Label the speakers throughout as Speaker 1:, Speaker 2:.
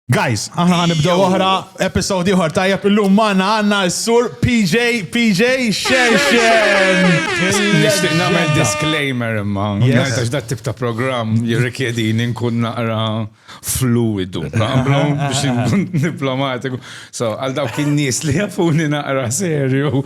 Speaker 1: Guys, aħna għan nibdew oħra, episodi oħra tajjeb illum maħna għanna s-sur PJ, PJ, Xerxen! Nishtiq
Speaker 2: namel disclaimer imma, għax dat tip ta' program jirrikjedi ninkun naqra fluidu, għamlu biex nkun diplomatiku. So, għal daw kien nis li jafuni naqra serju.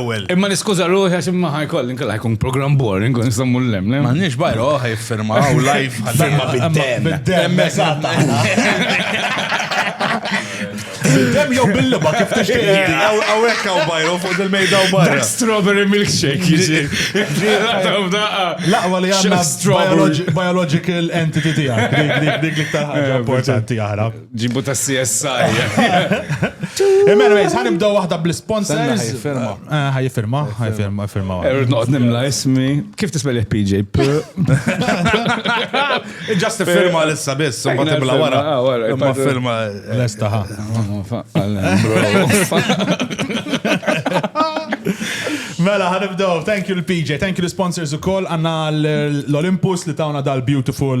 Speaker 3: l-ewwel. Imma niskuża ruħi għax
Speaker 2: imma ħajkolli nkella ħajkun programm boring u nistgħu mmur lem. Ma nix bajra oħ
Speaker 3: jiffirma u live ħadimma bid-dem. Bid-dem, eżatt.
Speaker 1: Bid-dem jew bil-liba kif tixtieq. Hawnhekk hawn bajra
Speaker 3: fuq il-mejda u barra. Strawberry milkshake
Speaker 2: jiġi.
Speaker 1: Laqwa li għandna biological entity tiegħek. Dik li ktar ħaġa importanti aħra. Ġibu ta' CSI. Imman, għajz, għan ibdaw wahda bl-sponsors. Għajfirma. Għajfirma, eh, għajfirma, għajfirma.
Speaker 2: Erud noqt nimla ismi. Kif tisbel jek PJ?
Speaker 3: Just firma l-issa biss, un bat imla wara. Ma firma. L-esta ħa.
Speaker 1: Mela, ħanibdow. Thank you l-PJ, thank you l-sponsors u koll. Għanna l-Olympus li tawna dal-beautiful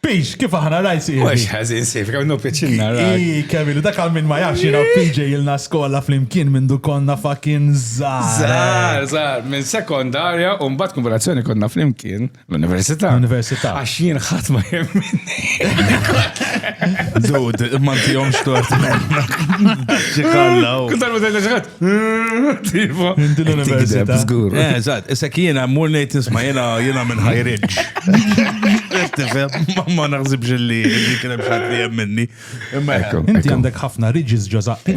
Speaker 1: Pix, kif aħna rajt si. Mux ħazin sif,
Speaker 2: kemm nu piċinna rajt. Kemilu, dak għal minn ma
Speaker 1: jafx jina PJ il-na skola fl-imkien minn du konna fakin zar. Zar, zar, minn
Speaker 2: sekondarja un bat konvolazzjoni konna fl-imkien l-università. L-università. Għax jien
Speaker 1: ħat ma
Speaker 2: jemmin.
Speaker 3: Zud, ma tijom xtort. Ġikallaw. Kutar ma tajna ġikat.
Speaker 2: Tipo. Inti l-università.
Speaker 1: Zgur. Eh, eżatt,
Speaker 2: issa kiena
Speaker 3: mur ngħid isma' jiena jiena minn High Ridge. Tifhem, ma- ma naħsibx li li kien hemm xatt li hemm minni. Imma Ekku, Inti ekku.
Speaker 1: għandek ħafna ridges ġożaq.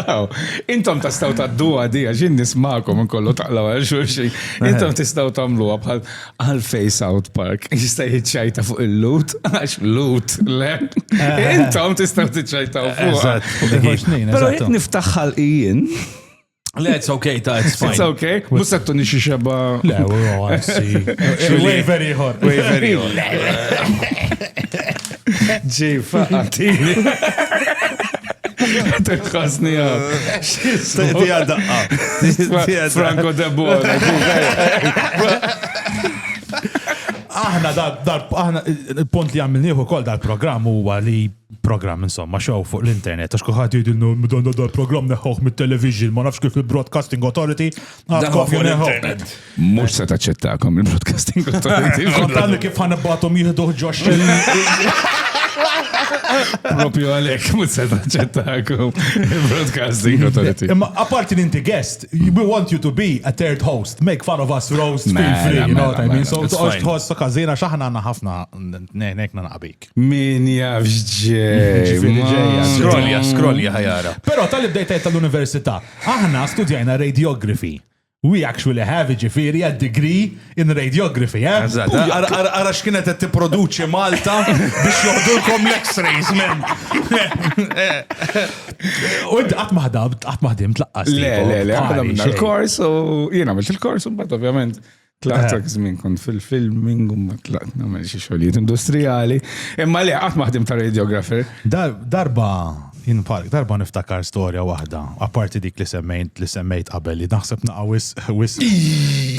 Speaker 1: Aw,
Speaker 2: Intom tastaw tadduha di għax jien nismakom inkollu taqlaw għal xulxin. Intom tistaw tagħmluha bħal Għalfej South Park jista' jiċċajta fuq il-lut, għax lut, le. Eh. Intom tistgħu tiċċajtaw fuq. Però jekk niftaħ ħalqijien. Le, it's
Speaker 3: okay, ta' it's fine. It's okay. Musa t-tuni
Speaker 2: xie xeba. Le, u
Speaker 1: għansi. Wejveri ħor. Wejveri ħor.
Speaker 2: Ġi, faqatini. Tħasni għab. Ti
Speaker 3: għadaqqa. Franco de
Speaker 2: Bona.
Speaker 1: Aħna dar, aħna il-punt li għamilniħu kol dal-program huwa li program insomma xow fuq l-internet għax kuħat jidilnu mdonna dal-program neħħuħ mit-television ma nafx kif il-broadcasting authority għadkof fuq l-internet.
Speaker 2: Mux se taċċettakom il-broadcasting authority. Għaddan kif ħan
Speaker 1: batom jihduħ ġox.
Speaker 2: Propju għalek, mux se taċċettakom il-broadcasting authority. Imma apparti li inti
Speaker 1: guest, we want you to be a third host. Make fun of us, roast, feel Mela, free, you know what I mela, mean? mela, So, it's toqgħodx fine. tħoss ta' każina x'aħna għandna ħafna nejnek naqbik. Min jafx
Speaker 2: ġej. Ġifieri ġejja. ma- Skrolja,
Speaker 3: skrolja ħajara. Però tal-li bdejt għid
Speaker 1: tal-università, aħna studjajna radiography. We actually have jiġifieri a degree in radiography, eh? Eżatt, ara ara
Speaker 3: x'kienet qed tipproduċi Malta biex joħdulkom l-X-rays, man!
Speaker 1: U inti qatt ma ħdabt, qatt ma ħdimt laqqas. Le, le, le, aħna għamilna
Speaker 2: xejn. l-kors u jien għamilt il-kors u mbagħad ovvjament tlaqt dak żmien kont fil-filming u mbagħad tlaqt nagħmel xi xogħlijiet industrijali. Imma le qatt ma ħdim ta' radiografer. Dar- Darba Jien bħalek, darba niftakar storja waħda, apparti dik li semmejt li semmejt qabel li naħseb naqa' wisq wisq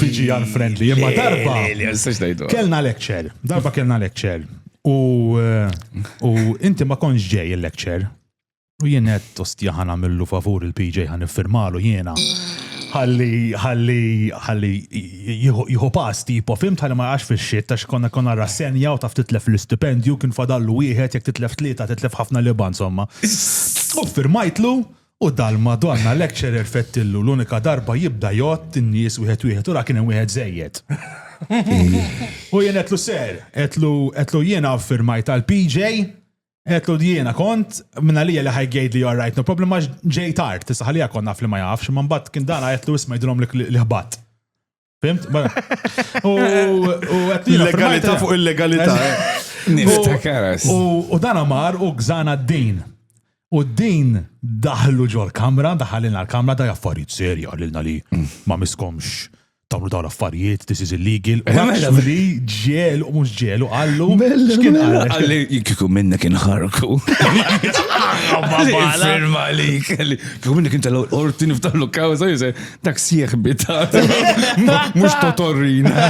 Speaker 2: PG unfriendly, imma darba Le, le, nistax ngħidu. kellna lecture, darba kellna lecture u eh, u inti ma kontx ġej il-lecture u jien qed ostja ħa nagħmillu favur il-PJ ħa niffirmalu jiena ħalli ħalli ħalli jieħu pass tipo fhimt ħalli ma jaqax fix-xitt għax konna konna rassenja u taf titlef l-istipendju kien fadallu wieħed jekk titlef tlieta titlef ħafna libgħa insomma. U ffirmajtlu u dal-Madonna lecturer fettillu l-unika darba jibda jgħodd in-nies wieħed wieħed u ra kien hemm wieħed żejjed. U jien għedtlu ser, għedtlu jiena ffirmajt għall-PJ Għetlu jiena kont, minna li li ħajgħid li you're right, no problem, għax ġej tard, tista ħalija konna fli ma jafx, man bat kien dan għetlu isma jidrom li ħbat. Fimt? U għetlu legalità fuq
Speaker 3: il-legalità. Eh.
Speaker 4: U dan
Speaker 2: għamar u gżana d-din. U din daħlu ġol kamra, daħalina l-kamra, da jaffariet serja, l-na li mm. ma miskomx tawlu dawn l-affarijiet, this is illegal. U mela, mela. actually ġelu, u mhux ġelu, għallu. Mela, x'kien mela. għallu? Għalli kieku
Speaker 4: minna kien ħarku. Firma li kelli. Kieku minna kien tal-orti niftaħlu kawza, jise, dak sieħ bita. Mux totorrina.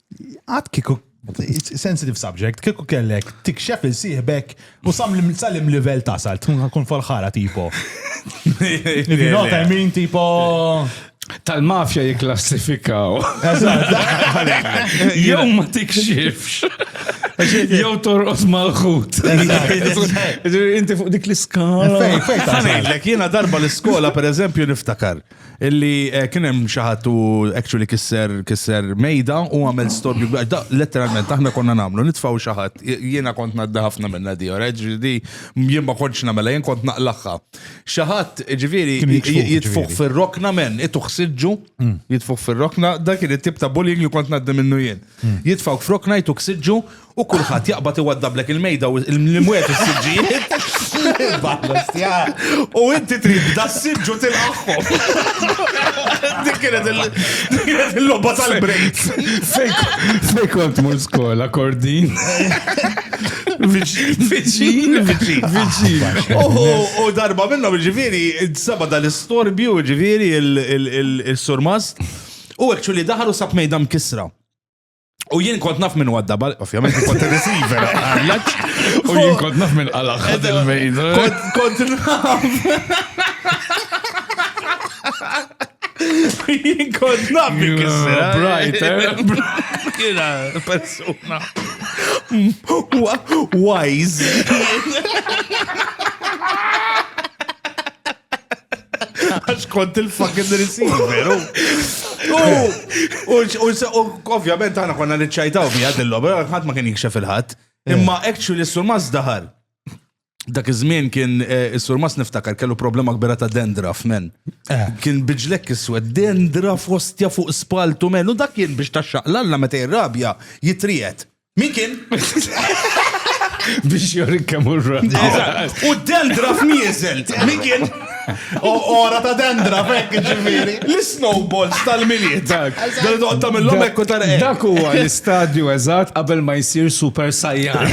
Speaker 2: Għad kiku sensitive subject, kieku kellek tikxef il-sieħbek u sam salim level tasal, tkun kun falħara tipo. You know what I mean, tipo.
Speaker 4: Tal-mafja jiklassifikaw. Jew ma tikxifx. Jew torqos mal-ħut. Inti fuq dik l-iskala. Fejn, fejn.
Speaker 3: Jena darba l-iskola, per eżempju, niftakar. Illi eh, kien hemm xi ħadd u actually kisser kisser mejda u għamel storbju kbir. Da letteralment aħna konna nagħmlu nitfgħu xi ħadd. Jiena kont nadda ħafna minna di, alright? Ġifieri jien ma kontx nagħmel jien kont naqlaħħa. Xi ħadd ġifieri Kien jitfuħ, j- jitfuħ ġifieri. fir-rokna men, ituħ siġġu, jitfuħ fir-rokna, dak kien it-tip ta' bullying li kont nadda minnu jien. Jitfgħu f'rokna jtuk siġġu U kulħadd jaqbad iwaddablek il-mejda u l-imwiet u s-siġġijiet. U inti trid da s-siġġu tilqaħħom. Dik kienet il-logħba tal-break.
Speaker 4: Fej kont mur skola kordin.
Speaker 3: Viċin, viċin, viċin. U darba minnhom ġifieri, seba dal-istorbju ġifieri il-surmast. U għekċu li daħalu sab mejda mkisra. U jien kont naf minn wadda bal, ovvjament kont receiver għallaċ.
Speaker 4: U jien kont naf minn għalax ħad il-mejn. Kont
Speaker 3: naf. Jien kont naf minn kissera. Brighter.
Speaker 4: Kira,
Speaker 3: persuna. Wise. Għax kont il-fucking receiver. U ovvjament għana konna li ċajtaw bi għad il-lob, għad ma kien jikxef il-ħat. Eh. Imma actually s-surmas daħal. Dak iż-żmien kien eh, is-surmas niftakar kellu problema kbira ta' dendraf, men. Eh. Kien biġlek iswed dendraf ostja fuq spaltu, men. U dak kien biex taxxaqlalla meta jirrabja jitrijet. Min kien? Biex
Speaker 4: jorik kemm urra. U
Speaker 3: dendra f'mieżel. Min kien? O ora
Speaker 2: ta' dendra fekk ġifieri. L-snowballs
Speaker 3: tal-miliet. Dak. Dan doqt tagħmilhom hekk u tara hekk. Dak huwa l-istadju
Speaker 4: eżatt qabel ma jsir super sajjan.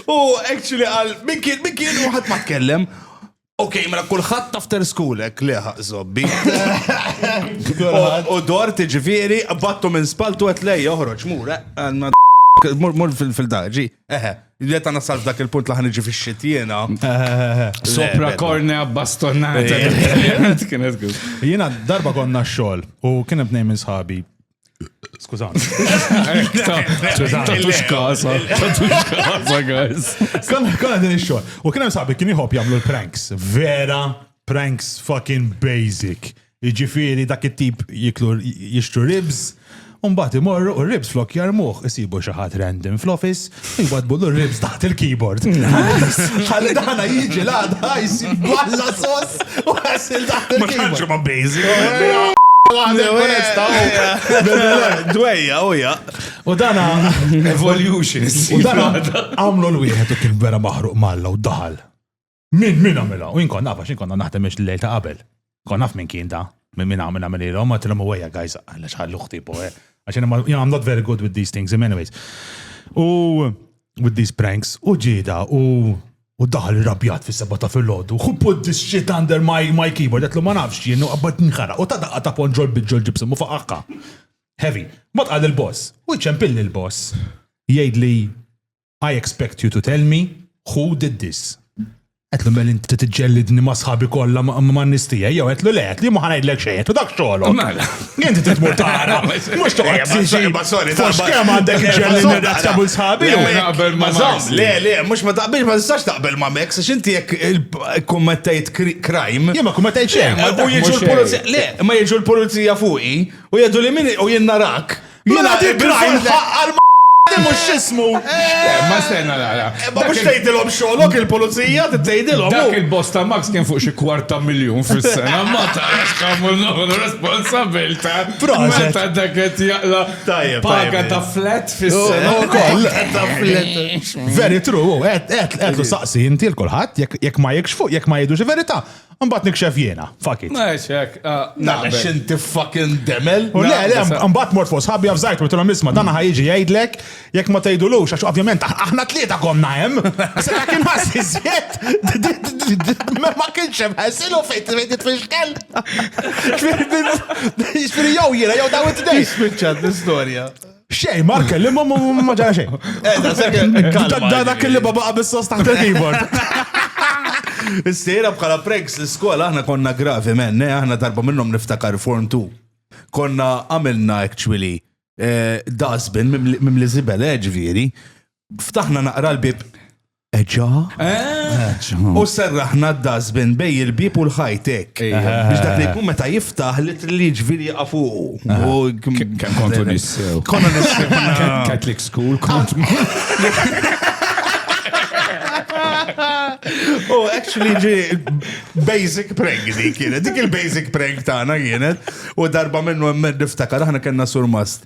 Speaker 3: U actually għal min kien min kien u ħadd ma tkellem. Ok, mela kulħadd after schoolek li zobbi. U dor tiġifieri battu minn spaltu qed lej joħroġ mur eh, mur fil-daġi. Eħe, li ta' nasal dak il-punt li ħanġi fi xitjena.
Speaker 4: Sopra korne bastonata.
Speaker 2: Jiena darba konna xogħol u kien hemm tnejn minn sħabi Skużani.
Speaker 4: Tatux kasa, tatux kasa, guys. Konna
Speaker 2: din ix-xogħol. U kien hemm sabi kien jħobb jagħmlu l-pranks. Vera pranks fucking basic. Jiġifieri dak it-tip jiklu jixtru ribs. Umbat imorru u ribs flok jarmuħ isibu xi ħadd random fl-office Jwadbu l-ribs taħt il-keyboard. Għalli daħna jiġi l-għadha jisib balla sos u għasil taħt il-keyboard. Ma kanġu ma bejzi.
Speaker 3: Dwejja, u ja. U dana.
Speaker 2: Evolution.
Speaker 4: U dana
Speaker 2: għamlu l-wieħed u kien vera maħruq malla u daħal. Min, min għamilha? U jien kont naf għax jien konna naħdem biex l-lejl ta' qabel. Kon naf minn kien da, minn minn għamilha minn ilhom, ma tilhom u għajja, guys, għalla xħallu uħti po, eh. Għax jien ma- you know, I'm not very good with these things, in many ways. U with these pranks, u ġida, u u daħal rabjat fis seba ta' fil-ħodu, who put this shit under my, my keyboard, għetlu ma nafx jien, u għabbat nħara, u ta' daqqa ta' ponġol bidġol ġibsum u faqqa. Heavy. Ma tqal il-boss, u ċempilli il-boss, jgħid li I expect you to tell me who did this. Għetlu mel inti t-ġellidni ma sħabi kolla ma nistija, jew għetlu le, għetlu ma ħanajdlek xejn, għetlu dak xogħol. Mela. Inti
Speaker 4: t-tmur tara,
Speaker 2: mux toqgħod tiġi. Fux kemm għandek ġellidni dak tabul sħabi.
Speaker 4: Le, le, mux ma taqbilx
Speaker 3: ma tistax taqbel ma Max, xinti jek kummettajt crime. Jema kummettajt xejn.
Speaker 2: U jieġu l-pulizija,
Speaker 3: le, ma jieġu l-pulizija fuqi, u jgħidu li minni u jennarak. Mela dik rajn
Speaker 2: ħaqqar ma mhux x'ismu. Eh, ma stenna
Speaker 4: nara. Eh, ma mhux tgħidilhom
Speaker 3: xogħolok il-pulizija tgħidilhom. Dak oh. il-boss ta' Max
Speaker 4: kien fuq xi kwarta miljun fis-sena ma tarax kemm nħu responsabilta. Meta dak qed jaqla paga ta' flat fis-sena. Oh, oh,
Speaker 2: Very true, qed saqsi inti l-kulħadd jekk ma jekx fuq jekk ma jgħidux verità. Mbatt nikxef jiena, fuck it. Meċek,
Speaker 4: naqbex ah, inti
Speaker 3: fucking demel. U le, le, mbatt
Speaker 2: mort fuq sħabbi għafżajt, u t-tulom isma, dan ħajġi jgħidlek, jek ma tgħidulux, għax ovvjament aħna tlieta konna hemm. Se ta' kien ħassi zjed, ma kienx hemm ħassilu fejn trid tfixkel. Ġifieri jew jiena jew daw it-tnejn. Spiċċat l-istorja.
Speaker 3: Xej, mar
Speaker 2: kellim ma ma ġara xejn. Eh, dak li baba qabis sos taħt il-keyboard.
Speaker 3: Is-sejra bħala pranks l-iskola aħna konna gravi men, eh, aħna darba minnhom niftakar form 2. Konna għamilna actually eh, dasbin mimli zibel, ġviri. Ftaħna naqra l-bib Eġa? U serraħna d-dazbin bej il-bib u l-ħajtek. Biex dak li jkun meta jiftaħ li li ġviri għafuqu. Kem kontu
Speaker 4: nissew. Konna nissew.
Speaker 3: Catholic school
Speaker 4: kont. Oh,
Speaker 3: actually, ġi basic prank di kienet. Dik il-basic prank tagħna kienet. U darba minnu hemmed niftakar aħna kellna surmast.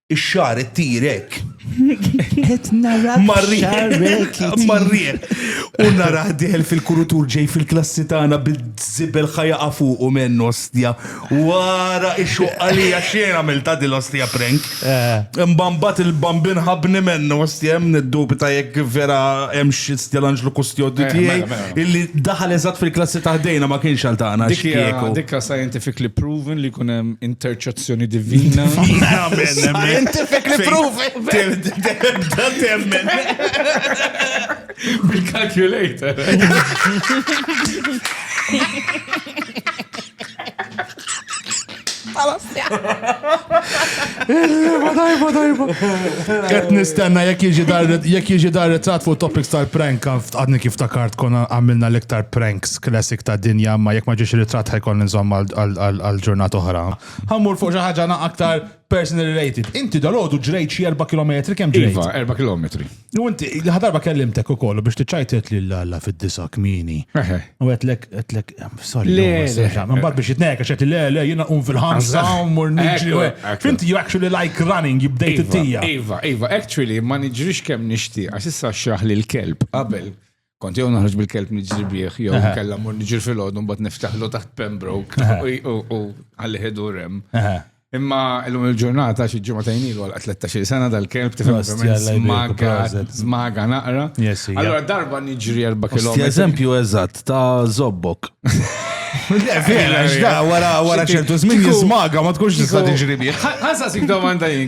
Speaker 3: Ix-xar ittir hekk.
Speaker 5: Qed nara
Speaker 3: marrieħ. U nara diħel fil-kurutur ġej fil-klassi tagħna bil-żibel ħajaqa fuq u menn ostja. Wara ix-xoqqa li xejn għamilta din l-ostja prank. Eh. Mbambat il-bambin ħabni menn ostja hemm niddubita jekk vera hemm xi stja l-anġlu kustjodju eh, tiegħi mela, mela. illi daħal eżatt fil-klassi taħdejna ma kienx għal tagħna. Dik scientifically
Speaker 4: proven li jkun hemm interċezzjoni Azzjoni divina. Scientific
Speaker 3: li provi. Tibda temmen.
Speaker 4: Bil-calculator.
Speaker 2: Dajba, dajba, dajba. Qed nistenna jekk jiġi dar jekk jiġi dar ritrat fuq topics tal-prank għadni kif takart konna għamilna l-iktar pranks. Classic ta' dinja, ma jekk ma ġiex ritratt ħajkolli nżomm għal ġurnat oħra. Ħammur fuq xi ħaġa na aktar personal related. Inti dal-għodu ġrejt xi 4 km kemm ġrejt? Iva, 4 km.
Speaker 4: U inti
Speaker 2: ħadarba kellimtek ukoll biex tiċċajtet lil alla fid-disa kmini. U għetlek għetlek sorry. Le, mbagħad biex jitnejk għax le le jiena qum fil-ħamsa u mur niġri. Finti you actually like running, you bdejt iva, it-tija. Iva, iva, actually
Speaker 4: ma niġrix kemm nixtieq għax issa xraħ lil kelb qabel. Kont jew naħroġ bil-kelb niġri bih, jew kella mur niġri fil-ħod, un bat niftaħlu taħt Pembroke u għalli ħedu rem. Imma l-lum il-ġurnata xi ġimgħa tajnil għal 13 sena dal-kelb tifhem smaga, smaga naqra. Allora darba niġri 4 km. Eżempju eżatt
Speaker 3: ta' zobbok. Vera, xda, wara ċertu żmien jismaga ma tkunx tista' tiġri bih. Ħansa sik domanda
Speaker 4: jien.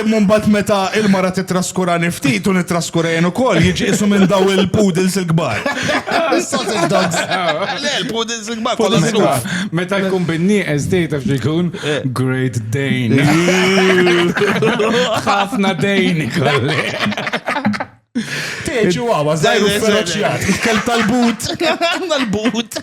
Speaker 3: Imma mbagħad meta il-mara titraskurani ftit u nittraskura jien ukoll, jiġi qisu minn daw il-poodles il-kbar. Sausage dogs. Le, il-poodles il-kbar kollha żgħar. Meta jkun
Speaker 4: bin-nieqes dej taf x'ikun? Eh. Great Dane. Ħafna dejni kolli.
Speaker 1: Teġu għawa, zaħru feroċjat. Kelb tal-but.
Speaker 3: Tal-but.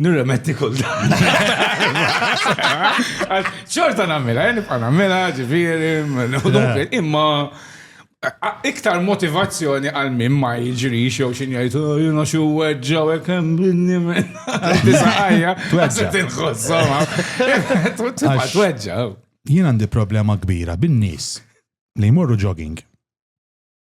Speaker 4: Nirremetti kull dan. ċorta nammela, eh, nibqa nammela, ġifiri, imma iktar motivazzjoni għal min ma jġri xew xin jgħid oh, jina xu weġġa u jkem binni minn disajja. Tweġġa. Tinħossoma. Tweġġa. Jien
Speaker 1: għandi problema kbira bin-nies li jmorru jogging.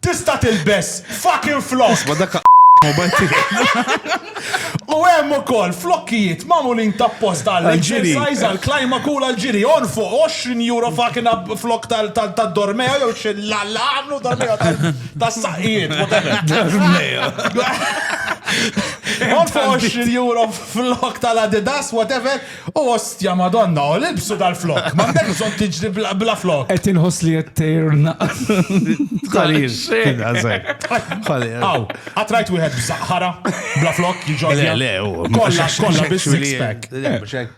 Speaker 1: Tista' tilbes fucking flokk! Isma' dak mobile
Speaker 3: tiegħek.
Speaker 1: U hemm ukoll flokkijiet magħmulin tapposta għall-exercise, għall-climac u għall-ġiri. Għorfu, għoxrin euro fucking a flokk tad-dormeo jew x'Alla għamlu dormeo tas-saqqijiet, whatever. Dormeo. Għorfu għoxrin euro flokk tal-Adidas, whatever. O ostja Madonna, o libsu dal-flokk, m'għandekx bżonn tiġri bla flokk. Qed inħoss li qed tgħir
Speaker 4: Tqarir.
Speaker 1: Aw, qatt rajt wieħed b'żaqħara bla flokk jiġodja? Le, le, Kollha, kollha bi six pack.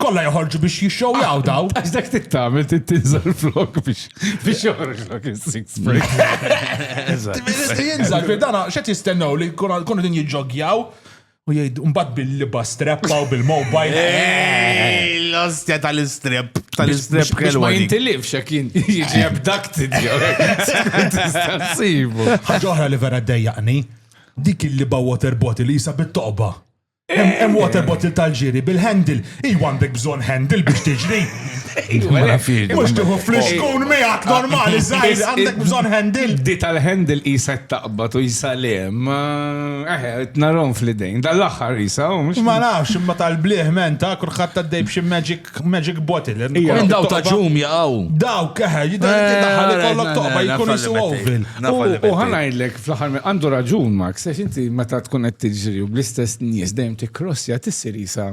Speaker 1: Kollha joħorġu biex jixxewjaw daw. Għax dak tittamel
Speaker 4: tinżel flokk biex biex joħorġlok is-six pack. Jinżel
Speaker 1: fil-dana x'qed jistennew li jkunu din jiġġogjaw? U jgħid, mbagħad bil-liba streppa u bil-mobile.
Speaker 3: L-ostja tal-istrep, tal-istrep kellu. Ma jintilifx, jek
Speaker 4: jiġi abducted, ħagħuħra li vera
Speaker 1: d-dajjaqni, dik il-liba water bottle jisa bit-toqba. Hemm water bottle tal-ġiri bil-handle Iwa għandek bżon handle biex tiġri. Iwa, la fil. Mux tiħu fl-iskun miegħek normali, zaħir, għandek bżon handle. Di tal-handle
Speaker 4: jisa taqbat u jisa lem. Eħe, eh, t-narom fl-idejn. Dal-axar jisa, u mux. Ma nafx, imma tal-bliħ
Speaker 1: men ta' kurħat ta' dejb xie magic bottle. Minn daw ta' ġum
Speaker 3: jaqaw. Daw, keħe,
Speaker 1: jidaħħal ikollok toqba jkun jisu ovil. U ħanajlek
Speaker 4: fl-axar għandu raġun, Max, għax inti meta tkun qed tiġri u bl-istess nies dejjem tikrossja tissir jisa.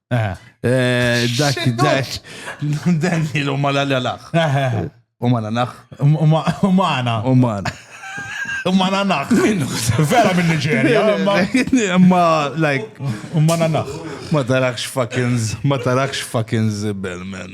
Speaker 3: Eh. Eh, dak, dak, dan il u mala l-alax. Eh, u mala nax. U mana.
Speaker 1: U mana. U mana nax. Vera minn Nigeria. Ma,
Speaker 3: like. U mana nax.
Speaker 1: Ma tarakx
Speaker 3: fucking, ma tarakx fucking zibel, man.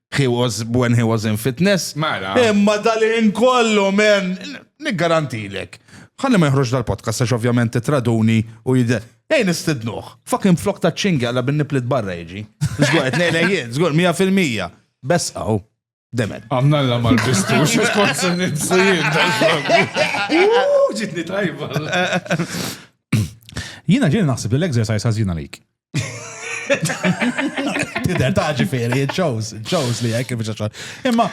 Speaker 3: he was when he was in fitness. Mela. Imma
Speaker 4: dal-in
Speaker 3: kollu, men, niggarantilek. Ħalli ma jħroġ dal-podcast, għax ovvjament traduni u jidher. Ej, nistidnuħ. Fucking flok ta' ċingi għalla bin niplit barra jiġi. Zgur, għet nejla jien, zgur, 100%. Bess għaw. Demen. Għamna l mal
Speaker 4: bistu, xux konsen ninsajin. Ġitni tajba.
Speaker 1: Jina ġiri naħseb li l-exercise għazina lik. Tider ta' ġifiri, it shows, it shows li jek biex xogħol. Imma,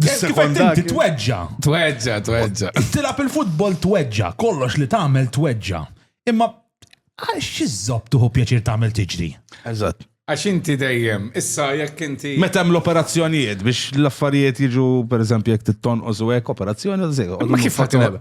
Speaker 1: sekonda ti tweġġa. Tweġġa, tweġġa.
Speaker 4: Tilab il-futbol
Speaker 1: tweġġa, kollox li tagħmel tweġġa. Imma, għal xizzop tuħu pjaċir tagħmel tiġri. Eżatt. Għax
Speaker 4: inti dejjem, issa jekk inti. Meta hemm l-operazzjonijiet
Speaker 3: biex l-affarijiet jiġu pereżempju jekk tittonqos u hekk operazzjoni u żejjed. Ma kif ħadd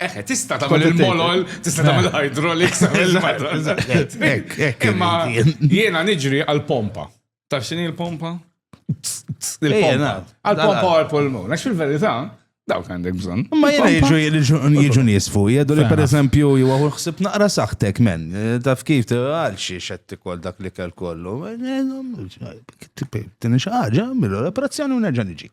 Speaker 4: Eħe, tista tagħmel il-molol, tista tagħmel hydraulics, Imma jiena niġri għal-pompa. Taf xini l-pompa? Il-pompa. Għal-pompa għal-polmu. Nax fil-verità, dawk għandek bżon. Ma jena
Speaker 3: jiġu nisfu, jgħadu li per eżempju jgħu xsib naqra saħtek men, taf kif għal xie xetti kol dak li kell kollu. Tini xaħġa, mill-operazzjoni u nerġan iġi.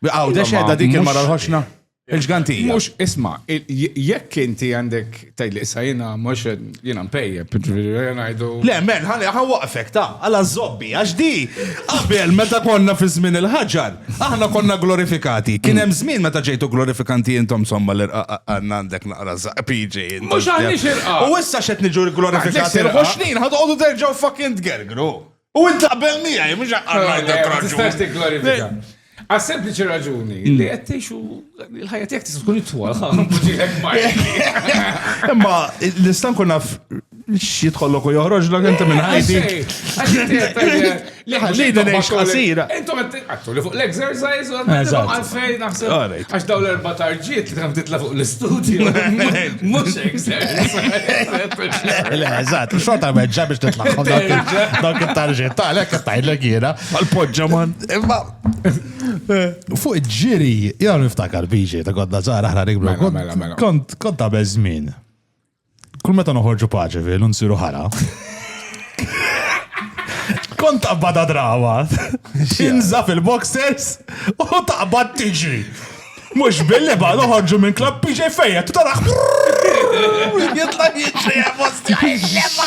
Speaker 3: Għaw, dex edha dik il-mara l-ħoxna. Il-ġgantija. Mux, isma,
Speaker 4: jekk inti għandek tajli issa jena, mux jena mpejja, għajdu. Le, men, għan
Speaker 3: waqfek ta' għala zobbi, għax di, għabel, meta konna fi żmien il-ħagġar, aħna konna glorifikati. Kien hemm żmien meta ġejtu glorifikanti intom somma l għanna għandek naqra PJ. Mux għandix irqa.
Speaker 4: U issa xet niġu
Speaker 3: glorifikati. Għax snin, għadu terġaw fucking tgergru. U int taqbel miegħi, mhux għandek raġun.
Speaker 4: Għas sempliċi raġuni li hmm. għettix u l-ħajja tijak tista' tkun it-twal, Imma
Speaker 3: l-istan kun naf xie tħollok u joħroġ l inti minn ħajti. Li ħallina neħx qasira. Intom għattu li
Speaker 4: fuq l-exercise u għalfej naħseb. Għax daw l-erba tarġiet li tħam titla fuq l-studio, mux
Speaker 2: exerts. Le, eżat, xorta meġġa biex titla fuq dawk il-tarġiet, ta' l-ek tajlek jena. Għal-podġa man.
Speaker 3: Imma,
Speaker 2: fuq ġiri, jgħal niftakar biġi, ta' kodda zara ħna rikbru, mela, mela, mela. kont ta' bezmin. Kull meta noħorġu paġi fil u nsiru ħara. Kont taqbad drawa. Inza fil-boxers u taqbad tiġi. Mux billi ba noħorġu minn klab PJ fejja, tu tarax. Jitla jiġri għabosti għajlema.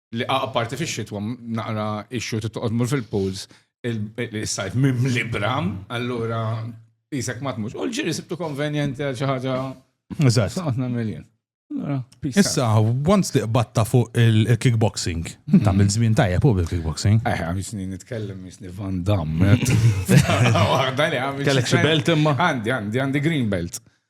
Speaker 4: li apparti fi xitwa naqra ixxu titqod mur fil-pools il-sajf mim li bram, allura jisek ma tmux. U l-ġiri sibtu konvenjenti għal xi ħaġa. Eżatt. Għatna
Speaker 2: miljen.
Speaker 4: Issa,
Speaker 2: once li batta fuq il-kickboxing, mhm. ta' mill-żmien tajjeb u bil-kickboxing. Eħe, għam jisni nitkellem
Speaker 4: jisni Van Damme. Kellek
Speaker 3: xi belt imma? Għandi, għandi, għandi green
Speaker 4: belt.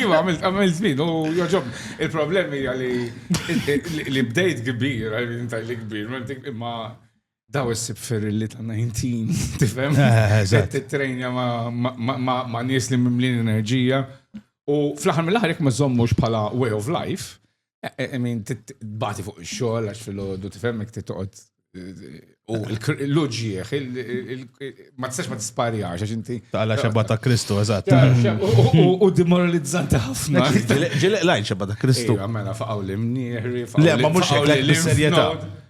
Speaker 4: Iva, għamilt, għamilt zmin, u joġob, il-problemi għalli li bdejt kbir, għalli intajli kbir, imma daw s-sib ferrilli ta' 19, tifem? T-trejnja ma' nies li mimlin enerġija. U fl-ħar mill-ħar jek ma' zommux pala way of life, I mean, tbati fuq xogħol għax fil-ħodu tifhem jekk titqgħod u l-loġieħ, ma tistax ma tisparjax, għax inti. Tala xabba ta' Kristu,
Speaker 2: eżatt. U
Speaker 4: demoralizzanti ħafna. Ġilek lajn xabba
Speaker 3: ta' Kristu. Għamela faqaw l-imnieħri,
Speaker 4: faqaw l-imnieħri. Le, ma
Speaker 3: mux l-imnieħri.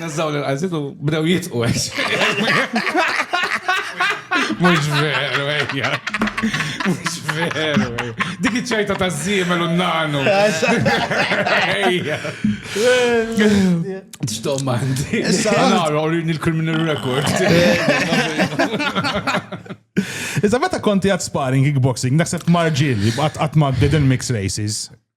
Speaker 4: Nazzaw l-għazit u bdew jitqu għax. Mux veru, ejja. Mux veru, ejja. Dik iċċajta ta' zimel u nanu. Ejja. Ġdom għandi. Issa għara u rini l-criminal record.
Speaker 2: Iżda meta konti għad sparring kickboxing, naħseb marġil, għat ma' mix races.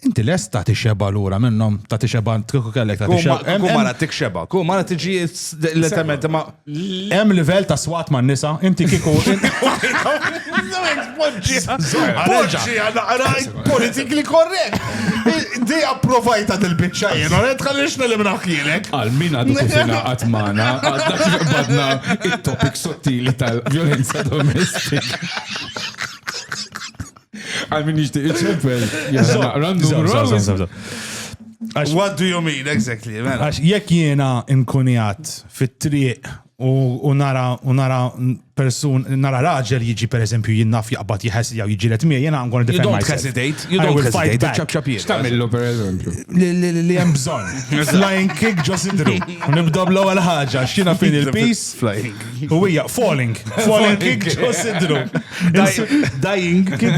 Speaker 2: Inti lest ta' tixeba lura minnhom, ta' tixeba kieku kellek ta' tixeba. Kieku mara tixeba, kieku
Speaker 3: mara tiġi l-element ma. Hemm livell
Speaker 2: ta' swat ma' nisa, inti kieku. Poġġi
Speaker 3: għal naqra politically correct. Di approvajta dil-bicċa jena, għed għalix nelimna ħkielek. Għal min għadu
Speaker 4: kufina għatmana, għadna kifbadna il-topik sottili tal-violenza domestika. Għal min jixtieq iċempel.
Speaker 3: What do you mean, exactly? Mela. Għax jekk jiena
Speaker 2: inkunjat fit-triq u nara u nara persun nara raġel jiġi per eżempju jinnaf jaqbad jħess jew jiġi let mija jiena għangon defend myself. Hesitate, you
Speaker 3: don't
Speaker 2: hesitate,
Speaker 3: ċab ċab jiet. X'tamillu per eżempju?
Speaker 4: Li hemm
Speaker 2: bżonn. Flying kick ġo sidru. Nibda bl-ewwel ħaġa, x'jiena fin il-peace. Flying. U
Speaker 3: hija falling,
Speaker 2: falling kik ġosidru.
Speaker 3: Dying kik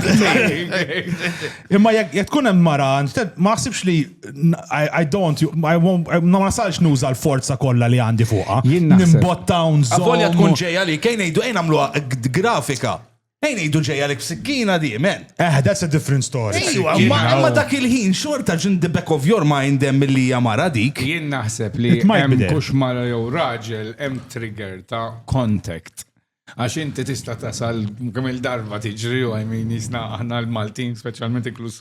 Speaker 3: Imma
Speaker 2: jek tkun hemm mara, ma ħsibx li I don't, ma nasalx nuża l-forza kollha li għandi fuqha. Nimbotta un Volja tkun ġejja li
Speaker 3: kejn ngħidu ejn għamluha grafika. Ejn ngħidu ġejja lek b'sikkina di, men. Eh, that's a different
Speaker 2: story. Ejwa, imma dak
Speaker 3: il-ħin xorta ġin the back of your mind hemm milli hija mara dik. Jien naħseb li
Speaker 4: hemm kux mara jew raġel hemm trigger ta' contact. Għax inti tista' tasal kemm il-darba tiġri u I mean jisna aħna l-Maltin speċjalment inkluż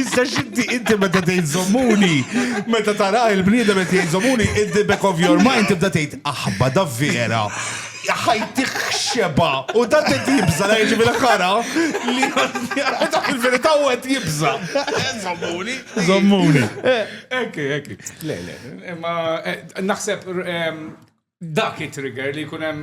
Speaker 3: Issa xinti inti meta tgħid żommuni, meta tara il-bniedem qed jgħid żommuni, in the back of your mind tibda tgħid aħba da vera. Ħajtik xeba u da qed jibża la jiġi bil-ħara li dak il-verità u qed jibża. Żommuni. Żommuni. Ekki, ekki.
Speaker 4: Le, le. Imma naħseb dak it-trigger li jkun hemm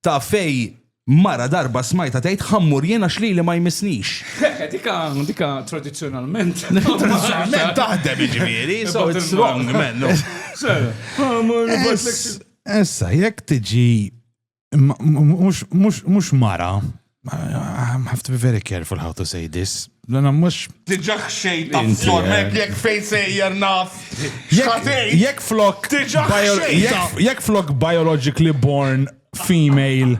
Speaker 3: ta' fej mara darba smajta tgħid ħammur jien għax lili ma jmissnix. Dika, dika
Speaker 4: tradizzjonalment. Tradizzjonalment
Speaker 3: taħdem iġifieri, so it's wrong, man.
Speaker 2: Issa, jekk tiġi mhux mara I have to be very careful how to say this. Lena mux. Diġa xejn ta'
Speaker 3: flormek jek fejn sejjer naf.
Speaker 2: Jek flok. Jek flok biologically born female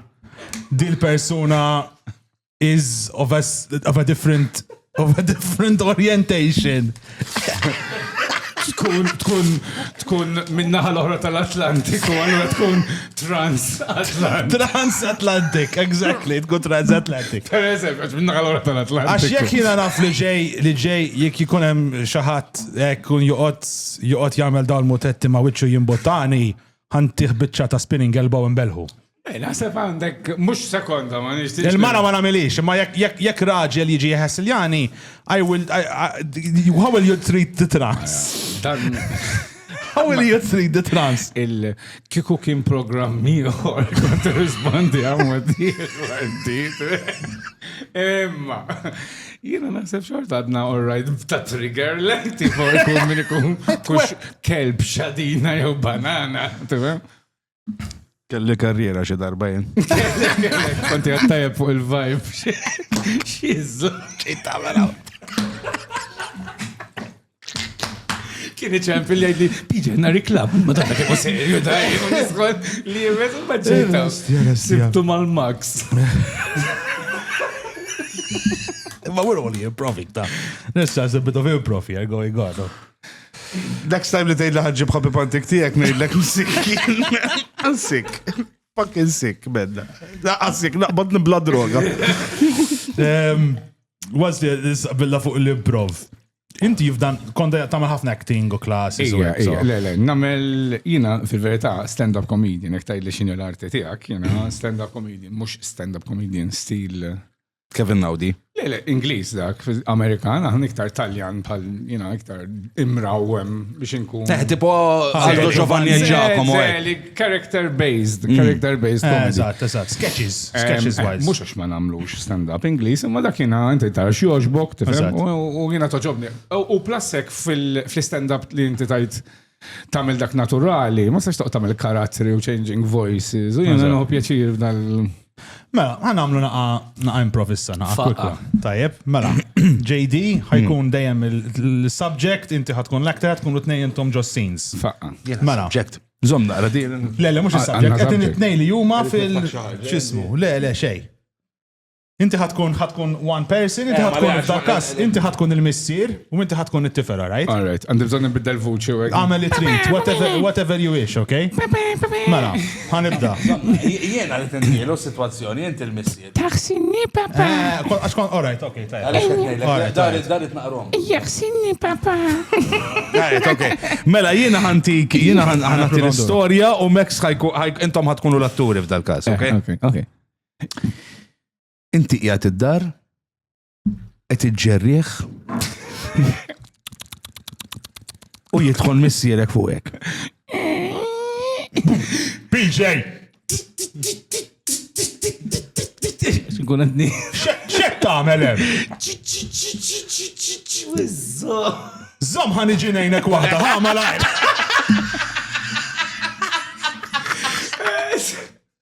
Speaker 2: dil persuna is of a, of a different of a different orientation. tkun
Speaker 4: tkun tkun minnaħa l-oħra tal-Atlantiku, allura tkun trans-Atlantik. Trans-Atlantik,
Speaker 2: exactly, tkun trans-Atlantik. Per eżempju, minnaħa
Speaker 4: l-oħra tal-Atlantik. Għax jekk jiena naf li
Speaker 2: ġej li ġej jekk jkun hemm xi ħadd hekk kun joqgħod joqgħod jagħmel dawn mutetti ma' wiċċu jimbottani, ħantih biċċa ta' spinning elbow imbelħu. Eh, naħseb għandek,
Speaker 4: mux sekonda, ma nix Il-mara ma namilix, ma
Speaker 2: jekk raġel jiġi jħess il-jani, I will, how will you treat the trans? How will you treat the trans? Il-kiku kien
Speaker 4: program miħor, kont rispondi għamma diħ, Emma, jina naħseb xort għadna orrajt ta' trigger, lenti fuq ikun minn ikun kux kelb xadina jew banana, tibem?
Speaker 3: Kelli karriera xi darba jien. Konti
Speaker 4: għattajab fuq il-vibe. Xizzu. Ċita mela. Kien iċem fil-li għidli, piġi għanna riklab, ma tanna kif serju da, jgħidli, li jgħidli, ma ġejta. Sibtu mal-max.
Speaker 2: Ma we're only improving ta. Nissa, a bit of improv here going on.
Speaker 3: Next time li tgħidli ħaġġib ħabib pantik tiegħek ngħidlek sick. Sick. Fucking sick, bedda. Laqqa sick, naqbad nibla droga.
Speaker 2: Was the billa fuq l-improv. Inti f'dan konda tagħmel ħafna acting u klassi. Le, le, nagħmel
Speaker 4: jiena fil-verità stand-up comedian, jekk tgħidli x'inhi l-arti tiegħek, jiena stand-up comedian, mhux stand-up comedian stil Kevin Naudi.
Speaker 3: Le, le, Ingliż
Speaker 4: dak, Amerikan, għan iktar Taljan bħal, jina, iktar imrawem biex inkun. Eh, tipo,
Speaker 3: għallu ah, Giovanni e Giacomo. Eh. Character
Speaker 4: based, mm. character based. Eh, eżatt, eżatt, sketches,
Speaker 2: sketches wise. Mux għax ma namlux
Speaker 4: stand-up Ingliż, imma dak jina inti tara xjoġbok, tifem, u jina toġobni. U plasek fil-stand-up li inti tajt tagħmel dak naturali, ma sax toqgħod tagħmel karattri u changing voices, u jiena nħu pjaċir f'dal. Mela,
Speaker 2: għan għamlu naqa naqa improvissa, naqa kwikwa. Tajjeb, mela, JD ħajkun mm. dejjem il-subject, inti ħatkun l-actor, tkun u tnejn intom ġo scenes. Faqqa. Mela.
Speaker 4: Subject.
Speaker 2: Zom naqra
Speaker 3: di. Le, le, mux il-subject,
Speaker 2: għetin it-nej li juma fil-ċismu. Le, le, xej. Inti ħa tkun ħa tkun one person, inti ħa tkun f'dal każ, inti ħa tkun il-missier u inti ħa tkun it-tifel, all right? All right, għandi bżonn nbiddel
Speaker 4: vuċi u hekk. Għamel li trid,
Speaker 2: whatever, whatever you wish, okay? Mela, ħa nibda. Jiena li
Speaker 3: tindielu s-sitwazzjoni, inti l-missier. Taħsinni papa.
Speaker 5: Eh, kol- Għax kon, all right, okay,
Speaker 2: tajja.
Speaker 3: Għaliex qed ngħidlek, All right, all daret
Speaker 5: right. daret naqrom. Jaħsinni papa. All right,
Speaker 3: okay. Mela, jiena ħantik, jiena ħan- ħanati l-istorja u Max ħajku, ħajk- intom ħatkunu l-atturi f'dal każ, okay? Okay, okay.
Speaker 4: Inti
Speaker 3: qiegħed id-dar, qed iġġerrieħ u jidħol missierek fuqek.
Speaker 2: PJ!
Speaker 4: Xkun għadni. Xek tagħmel
Speaker 2: hemm? Zom ħan iġi ngħinek waħda, ħa malajr.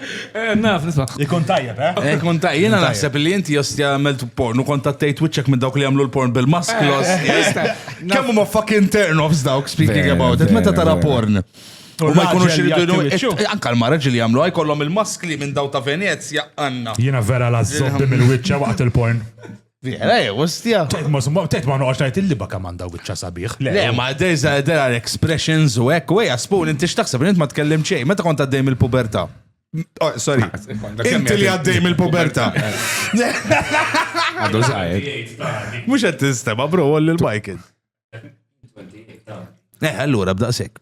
Speaker 3: Eh, naf, nisma.
Speaker 4: Ikun tajjeb, eh? eh
Speaker 2: ikun tajjeb, jena
Speaker 3: naħseb li inti josti għamilt porn u kont għattejt wicċek minn dawk li għamlu l-porn bil-masklos. Eh, Kemm huma fucking turn-offs dawk, speaking about it, meta tara porn. U ma jkunux irridu anka l-mara ġili għamlu għaj kollom il-maskli minn daw
Speaker 2: ta'
Speaker 3: Venezja għanna. Jena vera
Speaker 2: la
Speaker 3: zobbi mill-wicċa
Speaker 2: waqt
Speaker 3: il-porn. Vera, jew, ostja. Tet ma summa, tet ma
Speaker 2: noqgħodx ngħid il-liba kemm għandha wiċċa sabiħ. Le, ma there's a-
Speaker 3: there are expressions u hekk u hija spoon inti x'taħseb li int ma tkellem xejn meta kont għaddej mill-pubertà. Oh, sorry. Inti li għaddej mill-pubertà.
Speaker 4: Għadu zaħir. Mhux qed
Speaker 3: tistema bro għolli l-bike. Eh, allura b'daqshekk.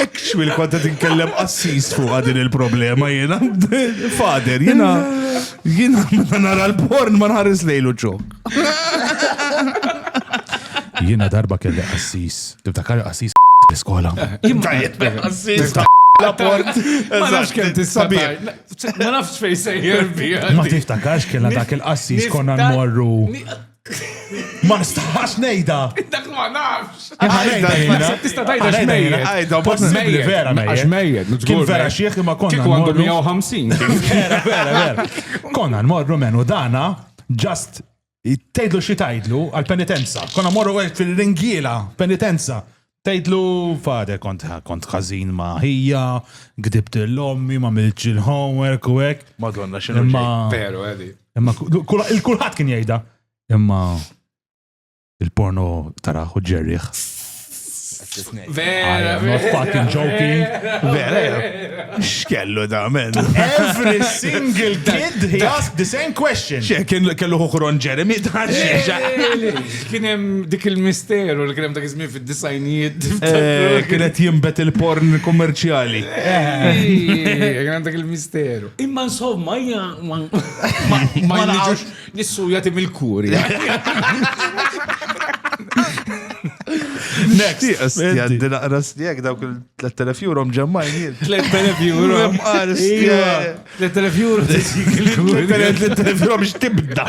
Speaker 3: Ekxwi li konta tinkellem assis fuq din il-problema jena. Fader, jena. Jena meta nara l-porn ma nħares lejlu ċok.
Speaker 2: Jena darba kelli assis. Tiftakar assis l-iskola. Assis
Speaker 3: la port. Ma nafx kemm
Speaker 4: tissabi. Ma nafx fej sejjer bija. Ma tiftakarx kellna
Speaker 2: dak il-qassis konna nmorru. Ma nistax nejda. Dak ma
Speaker 4: nafx. Tista tajda xmejjed.
Speaker 2: Għajda,
Speaker 4: possibli vera
Speaker 2: mejjed. Xmejjed, Kien
Speaker 4: vera xieħ
Speaker 2: imma konna. Kieku għandu 150. Vera,
Speaker 4: vera, vera.
Speaker 2: Konna nmorru menu dana, just tgħidlu xi tgħidlu għal-penitenza. Konna morru għed fil-ringiela, penitenza. Tgħidlu, Father, kont kont ħażin ma' ħija, gdibt lil ommi, ma miltx il-homework u hekk. Madonna x'inhu Imma- ġej,
Speaker 3: Pero għedi.
Speaker 4: Imma kul-
Speaker 2: il-kulħadd kien jgħidha. Imma il-porno taraħ u ġerriħ. I Vera,
Speaker 4: am not fucking
Speaker 2: joking. Vera, ja.
Speaker 3: X'kellu da, men. Every
Speaker 2: single kid he asked the same question. Xe, kien kellu ħuħron
Speaker 3: Jeremy, da, xe,
Speaker 4: Kien hemm dik il-misteru li kien hemm dak iż-żmien fid-disajnijiet. Eh, kien qed
Speaker 3: jinbet il-porn kummerċjali.
Speaker 4: Kien hemm dak il-misteru. Imma insomma, hija ma jiġux nissuja tim il-kuri.
Speaker 3: Next. Jaddi naqra stijek dawk il-3000 euro mġemmajn jien. 3000 euro.
Speaker 4: Mqar stijek. 3000 euro.
Speaker 3: 3000 euro biex tibda.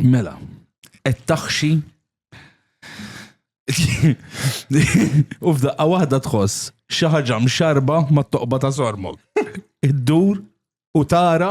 Speaker 3: Mela, qed taħxi u f'daqqa waħda tħoss xi ħaġa mxarba mat-toqba ta' sormok. Iddur u tara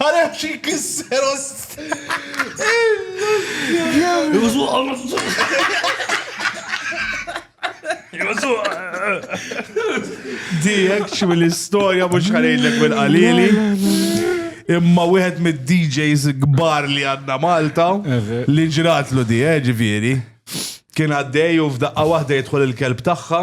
Speaker 3: Għara xie kisser ost. Jużu għalma. Jużu. Di, ekċi mill-istoria mux ħarejlek mill-qalili. Imma wieħed mid-DJs gbar li għanna Malta li ġratlu di, eh, ġifieri. Kien għaddej u f'daqqa waħda jidħol il-kelb tagħha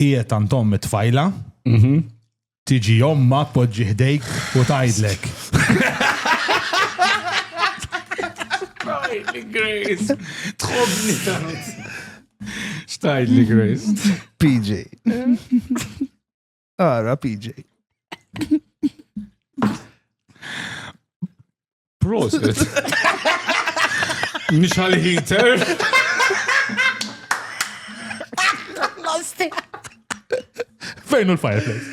Speaker 2: qiegħed għand omm it-tfajla, Mhm. tiġi omma tpoġġi ħdejk u tgħidlek.
Speaker 4: Xtajtli Grace. Tħobni tant. Xtajtli Grace. PJ.
Speaker 3: Ara, PJ.
Speaker 4: Prosit. Mhix għal heater.
Speaker 2: Fejn u l-fireplace?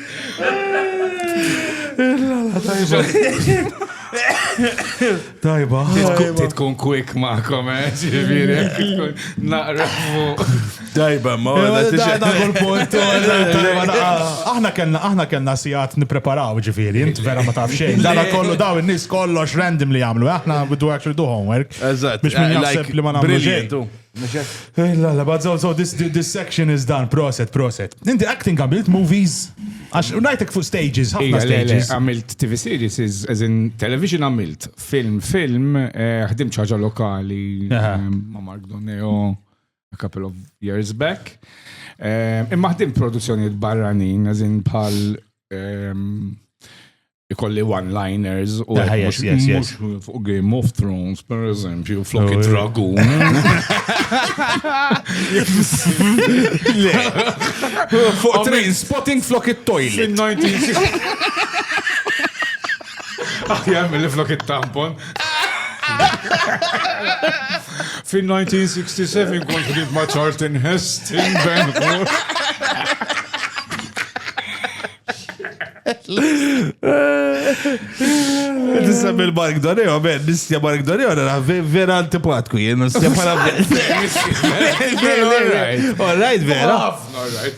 Speaker 3: Tajba. Titkun quick
Speaker 4: ma'kom, eh, ġiviri, naqra fuq. Dajba, ma
Speaker 2: Aħna kellna, aħna kellna sijat nipreparaw ġifiri, int vera ma taf xejn. Dara kollu daw in-nies kollox random li jagħmlu, aħna we do actually do homework. Eżatt. Biex minn jaħseb
Speaker 3: li ma
Speaker 2: nagħmlu xejn. Eh, la, la, but so, so this, this section is done, proset, proset. Inti acting għamilt movies, għax unajtek fuq stages, ħafna stages. Għamilt TV series,
Speaker 4: as in television għamilt, film, film, eh, ħdim ċaġa lokali, eh, ma Mark Doneo. a couple of years back. Eh, imma ħdim produzzjonijiet barranin, għazin bħal ehm, ikolli one-liners u ah, fuq Game of Thrones, per eżempju, flok oh, dragun
Speaker 3: Fuq train spotting flok it-toilet.
Speaker 4: Aħjar milli flok it-tampon. Fin-1967 kont ħdimt ma' Charlton Hest in Ben
Speaker 3: Tista' mill-Mark Doneo, ben, nistja Mark Doneo, nara vera antipatku, jien nistja pala. All right, vera.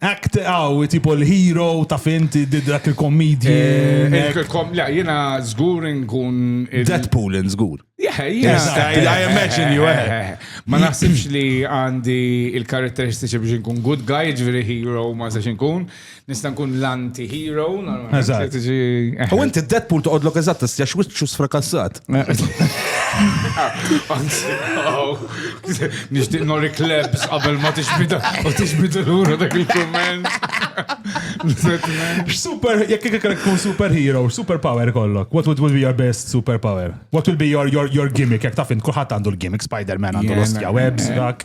Speaker 2: Act għaw, tipo l-hero, taf int, did dak il-kommedji. Eh, Kom- La,
Speaker 4: jena zgur nkun. il- Deadpool in żgur.
Speaker 3: Yeah, Yes, jena- I-
Speaker 4: I imagine you, eh.
Speaker 3: Ma naħsibx
Speaker 4: li għandi il-karatteristiċi biex nkun good guy, ġviri hero ma sax nkun. Nista nkun l-anti-hero. normalment, Eżatt. tiġi-
Speaker 3: U inti Deadpool toqgħodlok eżatt tistjax wiċċu sfrakassat.
Speaker 4: Nishtiq nori klebs qabel ma tixbida u tixbida l-ura dak il-komment.
Speaker 2: Super, jek kik kik kun super hero, super power kollok. What would, would be your best super power? What would be your, your, your gimmick? Jek tafin, kullħat għandu l-gimmick, Spider-Man għandu l-ostja webs, dak.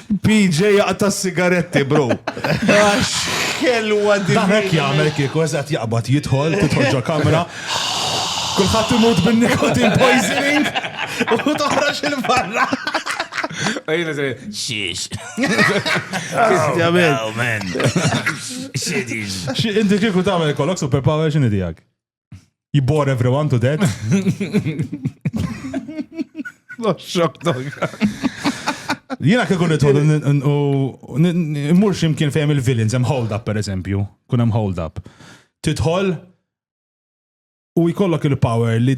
Speaker 3: PJ jaqta' s-sigaretti, bro. Għax kelwa di. Dan hekk jagħmel kieku
Speaker 2: eżatt jaqbad jidħol, tidħol ġo kamra. Kulħadd imut bin-nikotin poisoning u toħroġ il-barra.
Speaker 4: Ejna se xiex.
Speaker 3: Astjament.
Speaker 4: Xidix.
Speaker 2: Inti kieku tagħmel kollok superpower x'inhi tiegħek? You bore everyone to death. Jena kieku nitħol u n-mur ximkien fejem il-villains, hemm hold up per eżempju, kun hemm hold up. Titħol u jkollok il-power li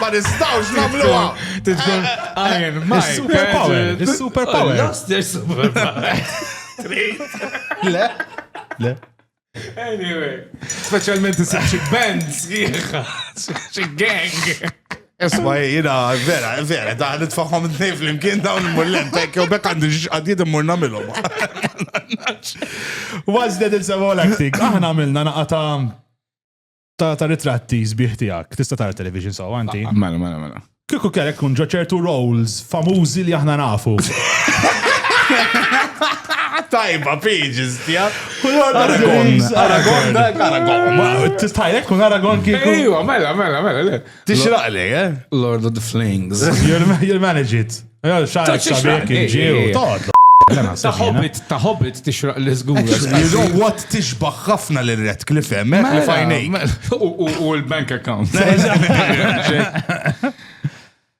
Speaker 3: Ma nistawx namluha! Tidkun
Speaker 4: Iron Mike. Superpower! Superpower!
Speaker 2: Lost their
Speaker 4: superpower! Le?
Speaker 2: Le? Anyway,
Speaker 4: specialment isib xi band sħiħa, xi gang. Esma,
Speaker 3: jina, vera, vera, da, nitfaħom t-nej fl-imkien dawn il-mullen, pekk, u bekk għandi għadjid immur namilom.
Speaker 2: What's that it's all acting? Aħna għamilna naqata ta' ta' ritratti sbieħ tiegħek. Tista' tara television so anti. Mela, mela, mela. Kieku
Speaker 4: kellek kun
Speaker 2: ġo ċertu roles famużi li aħna nafu. Tajba,
Speaker 3: pages, tijak. Aragon, Aragon,
Speaker 2: Aragon. Tistħajlek kun Aragon kieku. Ejwa, mela, mela, mela,
Speaker 4: le. Tixraq li,
Speaker 3: eh? Lord of the Flings.
Speaker 4: You'll manage
Speaker 2: it. Xarek xarek ġiju. Toqtlu. Ta' hobbit,
Speaker 4: ta' hobbit tixraq li zgur. You know what
Speaker 3: tixbaħ ħafna li red cliff emmek eh? li mela, fajnej. Mela. U l-bank
Speaker 4: account.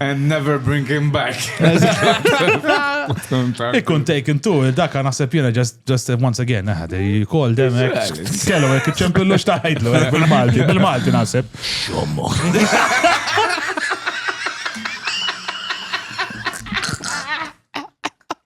Speaker 4: And never bring him back.
Speaker 2: It couldn't take him too, daka naħseb jena just, just once again, eh, they called them, eh, kellu, eh, ċempillu xtaħidlu, eh, bil-Malti, bil-Malti naħseb. Xommo.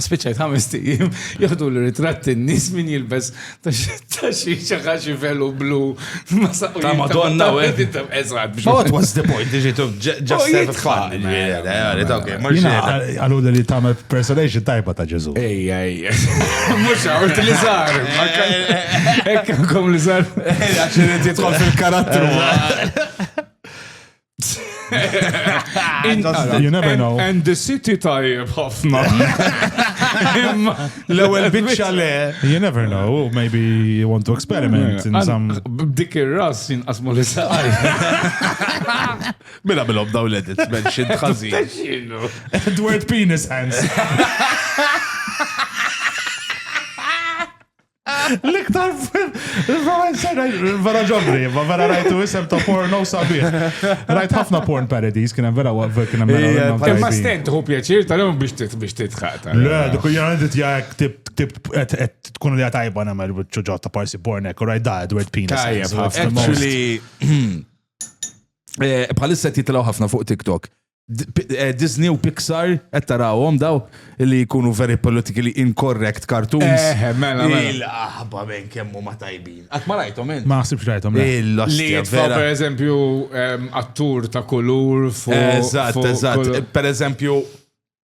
Speaker 4: Spiċċajt ħames tijiem, jieħdu l-ritratti n-nis min jilbes ta' xi xaħaxi velu blu. Ta'
Speaker 3: madonna u għed. Eżat. What was the point? Diġitu just have fun.
Speaker 2: Għallu li tamel personation tajba ta' Ġezu. Ej, ej.
Speaker 4: Mux għawt li zar. Ekk kom li zar. Għaxin jitħol
Speaker 3: fil-karattru.
Speaker 2: You never know. And the city
Speaker 4: tajjeb ħafna.
Speaker 3: L-ewwel biċċa le. You never know,
Speaker 2: maybe you want to experiment in some. B'dik ir-ras
Speaker 4: jinqasmu li saqaj.
Speaker 3: Mela bilhom daw l-edit, mention ħażin. Edward
Speaker 2: Penis Hands. L-iktar vera ġobri, ma vera rajtu isem ta' porno sabiħ. Rajt ħafna porn parodies, kien hemm vera waqfer kien hemm. Ma stent hu pjaċir
Speaker 4: tal-lum biex titħaq. Le, dik hija għandit
Speaker 2: jgħek tip tkun li tajba nagħmel ċuġġa ta' parsi porn hekk, rajt da Edward Pina. Actually,
Speaker 3: eh, bħalissa titlaw ħafna fuq TikTok. Eh, Disney u Pixar, qed tarawhom daw li jkunu very politically incorrect cartoons. Eh, eh mela, mela.
Speaker 4: Il-aħba minn
Speaker 3: kemmu ma tajbin. Għat ma rajtom int. Ma naħsibx rajtom. Li
Speaker 2: jitfa
Speaker 4: per eżempju ehm, attur ta' kulur fuq. Eżatt, eżatt.
Speaker 3: Per eżempju,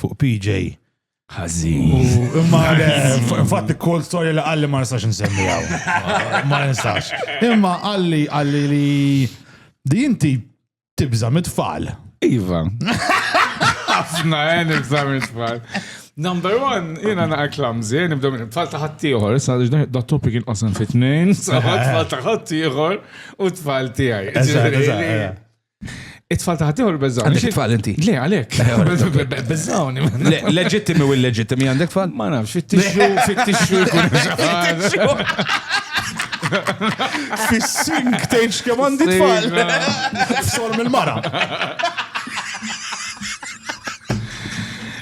Speaker 2: fuq PJ. Ħażin.
Speaker 4: Imma
Speaker 2: fatt kol storja li qalli ma nistax nsemmijaw. Ma nistax. Imma qalli qalli li di inti tibża mit-tfal. Iva.
Speaker 4: Ħafna, eh, nibża mit-tfal. Number one, jena naqa klamzi, eh, nibda minn tfal taħat tiħor, sa da topi kien qasam fit-tnejn, tfal taħat tiħor u tfal tijaj. It-tfal taħt jew il-bezzawni? Għandek tfal inti? Le, għalek. Bezzawni. Leġittimi
Speaker 3: u l-leġittimi għandek tfal? Ma nafx, fittixxu,
Speaker 4: fittixxu jkun
Speaker 2: Fis-sink tgħidx kemm għandi tfal. F'solm il-mara.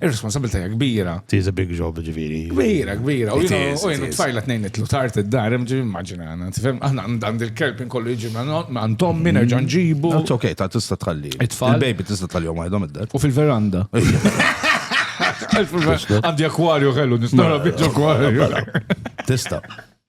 Speaker 4: Ir-responsabilta hija kbira. Tiż big job
Speaker 2: ġifieri. Kbira, kbira. U
Speaker 4: jenu tfajla tnejn itlu tard id-dar, ġi immaġina għana. Tifhem, aħna għand il-kelb inkollu jiġi għand tommi nerġa' nġibu. It's okay, ta' tista'
Speaker 3: tħalli. Il-baby tista' tħalli
Speaker 4: jom għajdhom
Speaker 3: id-dar. U fil-veranda.
Speaker 4: Għandi akwarju kellu, nistara biex akwarju. Tista'.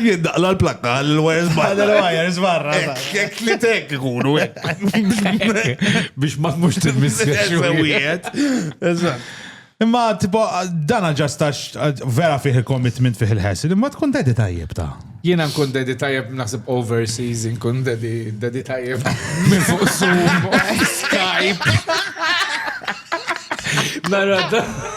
Speaker 2: Jiddaqla
Speaker 3: l-plakka l-wires barra. L-wires barra.
Speaker 2: Kek li tek
Speaker 3: ikunu
Speaker 4: Biex ma tmux t-missiex.
Speaker 2: Imma tipo dana ġastax vera fih il-commitment fih il-ħess, imma tkun dedi tajjeb ta' Jiena nkun dedi
Speaker 4: tajjeb naħseb overseas, nkun dedi dedi tajjeb minn fuq Zoom, Skype. Narra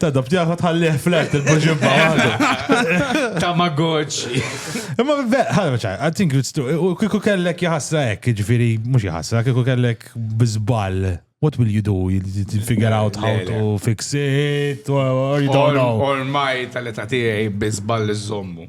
Speaker 3: Tadab tiegħek
Speaker 2: tħallih flat il-buġibba għadu. Tamagotchi.
Speaker 4: Imma
Speaker 2: ħadem ċaj, I think it's true. U kiku kellek jħasra hekk, ġifieri mhux jħasra, kiku kellek biżball. What will you do? You figure out how to fix it or you don't know. Ormai tal-età
Speaker 4: tiegħi biżball iżommu.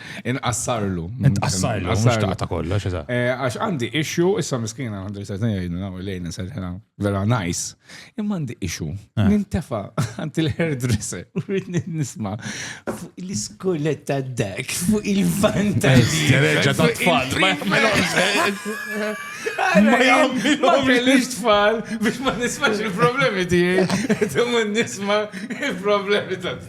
Speaker 4: Inqassarlu. Inqassarlu,
Speaker 2: mhux taqta' kollox, eżatt. Eh, għax għandi issue,
Speaker 4: issa miskina għandi se ngħidu naw lejn inserħina vera nice. Imma għandi issue. Eh. Nintefa' għand il-hairdresser u rrid nisma' fuq l-iskoletta dak, fuq il-vantaġġi. Reġa' ta' tfal. Ma jagħmilhomx tfal biex ma nismax il-problemi tiegħi. Tumma nisma' il-problemi ta' tfal.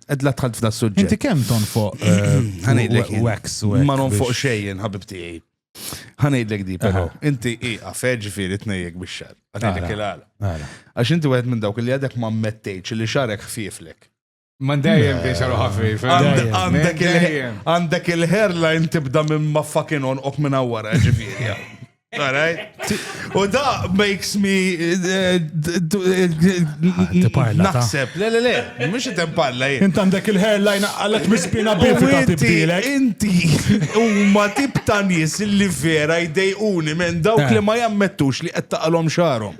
Speaker 3: Ed la tħalt f'da suġġett. Inti kemm tonfoq
Speaker 2: eh, wax u Ma nonfoq
Speaker 3: xejn, ħabib tiegħi. Ħanejdlek di, però. Inti iqa feġ fieri tnejjek bix-xar. Ħanejdlek il-għala. Għax inti wieħed minn dawk li għadek ma mmettejċ li xarek ħfieflek. Man dejjem
Speaker 4: biex għalu ħafif.
Speaker 3: Għandek il-hairline tibda minn ma fucking on ok minn għawara ġifiri. U da makes me.
Speaker 2: Naħseb, le, le, le,
Speaker 3: mux jitem parla jien. Int għandek il-hairline
Speaker 2: għallet mispina biex ta' tibdilek. Inti,
Speaker 3: u ma tib ta' nis li vera jdejquni minn dawk eh. li ma jammettux li qed taqalhom xarhom.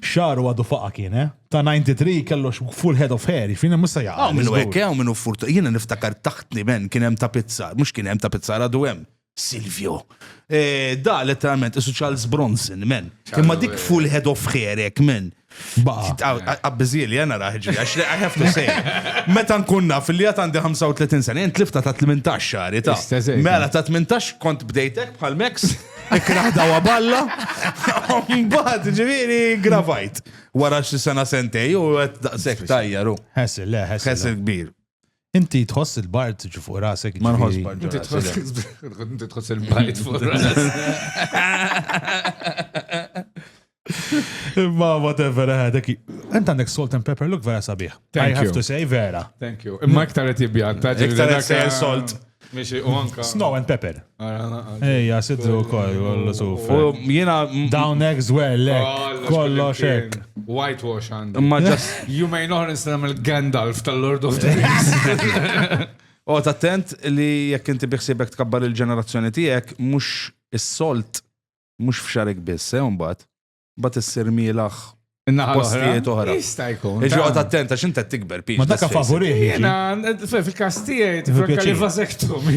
Speaker 2: Xaru għadu faqa kien, eh? Ta' 93 kellu full head of hair, jifini jiġifieri musa jaqa. Għaw minnu ekke, għaw minnu furt.
Speaker 3: Jina niftakar taħtni men kien hemm ta' pizzar, mux kien hemm ta' pizzar għadu hemm. Silvio. E, da, letteralment, isu Charles Bronson, men. Imma dik eh. full head of hair, ek, men. Għabbizili, jena raħġi, għax li I have to say. Meta nkun naf li għat għandi 35 sena, jent lifta ta' 18 xari ta' mela ta' 18 kont bdejtek bħal Max. Ikraħdaw għaballa, mbagħad ġifieri gravajt. Wara xi sena sentej u qed daqshekk tajjaru. Ħessil, le, ħessil. Ħessil kbir. Inti tħoss
Speaker 2: il-bart ġi fuq rasek. Ma nħoss bart.
Speaker 4: Inti tħoss il-bart fuq rasek.
Speaker 2: Imma whatever, eh, dak. Ent għandek salt and pepper look vera sabiħ. I have to say vera. Thank you. Imma iktar
Speaker 4: qed jibjanta. Iktar qed sejjer salt.
Speaker 3: Mixi u anka.
Speaker 4: Snow and pepper.
Speaker 2: Ejja, sidru wkoll kollu suf. Jiena
Speaker 3: down eggs
Speaker 2: well, lek. Kollox hekk. Whitewash għandi.
Speaker 4: Imma just you may
Speaker 3: not nagħmel
Speaker 4: Gandalf tal-Lord of the Rings. Għot attent
Speaker 3: li jekk inti biħsibek tkabbar il-ġenerazzjoni tiegħek mhux is-solt mhux f'xarek biss, eh, mbagħad. Mbagħad issir mielaħ postijiet oħra. Jista' jkun. Iġi qod
Speaker 4: attenta x'inta
Speaker 3: tikber pix. Ma dak favorih.
Speaker 2: Jiena
Speaker 4: fil-każ tiegħi tifranka li vasektum.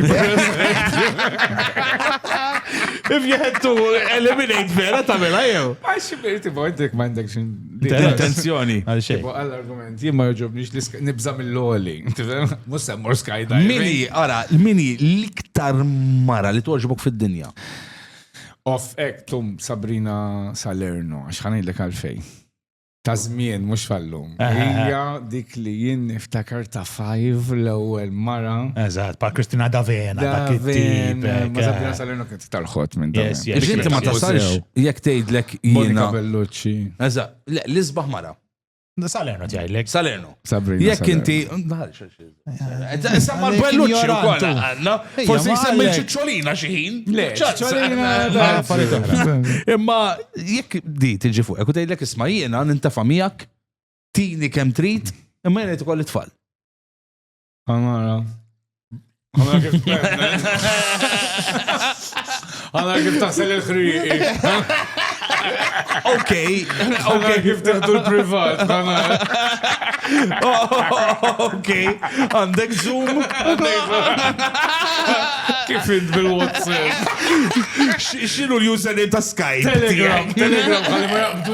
Speaker 3: If you had to eliminate vera tagħmilha jew. Għax xibirti bojtek
Speaker 4: m'għandek xi intenzjoni.
Speaker 3: Għal xejn.
Speaker 2: Għall-argument, jien ma
Speaker 4: joġobniex nibża' mill-loli. Mhux semmor skydiving. Mini, ara, mini
Speaker 3: l-iktar mara li toġbok fid-dinja. Off
Speaker 4: ek tum Sabrina Salerno, għax ħanidlek għalfej. Ta' żmien mhux fallum. Hija dik li jien niftakar ta' five l-ewwel mara. Eżatt, pa' Kristina
Speaker 2: Davena, dak it-tip. Ma Sabrina Salerno
Speaker 4: kien tal-ħodd minn dan. Biex inti ma tasalx
Speaker 3: jekk tgħidlek Monika Bellucci.
Speaker 4: Eżatt,
Speaker 3: l-isbaħ mara. Salerno
Speaker 2: tgħidlek. Salerno. Sabrina. Jekk
Speaker 3: inti. Samma l-belluċċi u koll għanna. Forsi jisemmi ċiċċolina xieħin. Le,
Speaker 4: ċiċċolina. Imma jekk
Speaker 3: di tiġi fuq, ekku tgħidlek isma jiena nintafa miegħek, tini kemm trid, imma jiena tkolli tfal.
Speaker 4: Għamara. Għamara kif Għamara kif taħsel il-ħriqi.
Speaker 3: Ok. Ok,
Speaker 4: kif teħdu l-privat,
Speaker 3: Ok, għandek zoom.
Speaker 4: Kif int bil-WhatsApp?
Speaker 3: Xinu l-username ta' Skype? Telegram, Telegram,
Speaker 4: għalli ma jaqbdu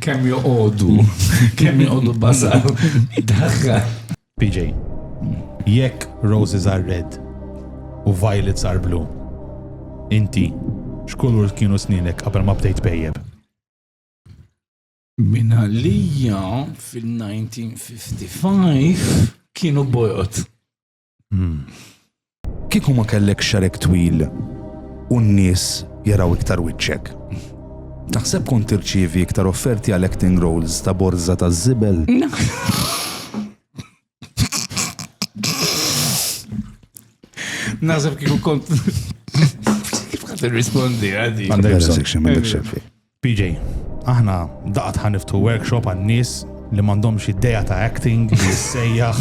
Speaker 4: Kemm joqogħdu, kemm joqogħdu basal. Daħħa. PJ,
Speaker 2: jekk roses are red u violets are blue, inti x'kulur kienu sninek qabel ma bdejt pejjeb?
Speaker 4: Min għalija fil-1955 kienu bojot. Hmm.
Speaker 3: Kieku ma kellek xarek twil u n-nies jaraw iktar wiċċek. Taħseb kont tirċievi iktar offerti għal acting roles ta' borza ta' zibel?
Speaker 4: Naħseb kieku kont. Kif għad rispondi għadi? Għandek section, għandek xefi.
Speaker 2: PJ, aħna daqat ħaniftu workshop għan-nies li m'għandhomx idea ta' acting li jissejjaħ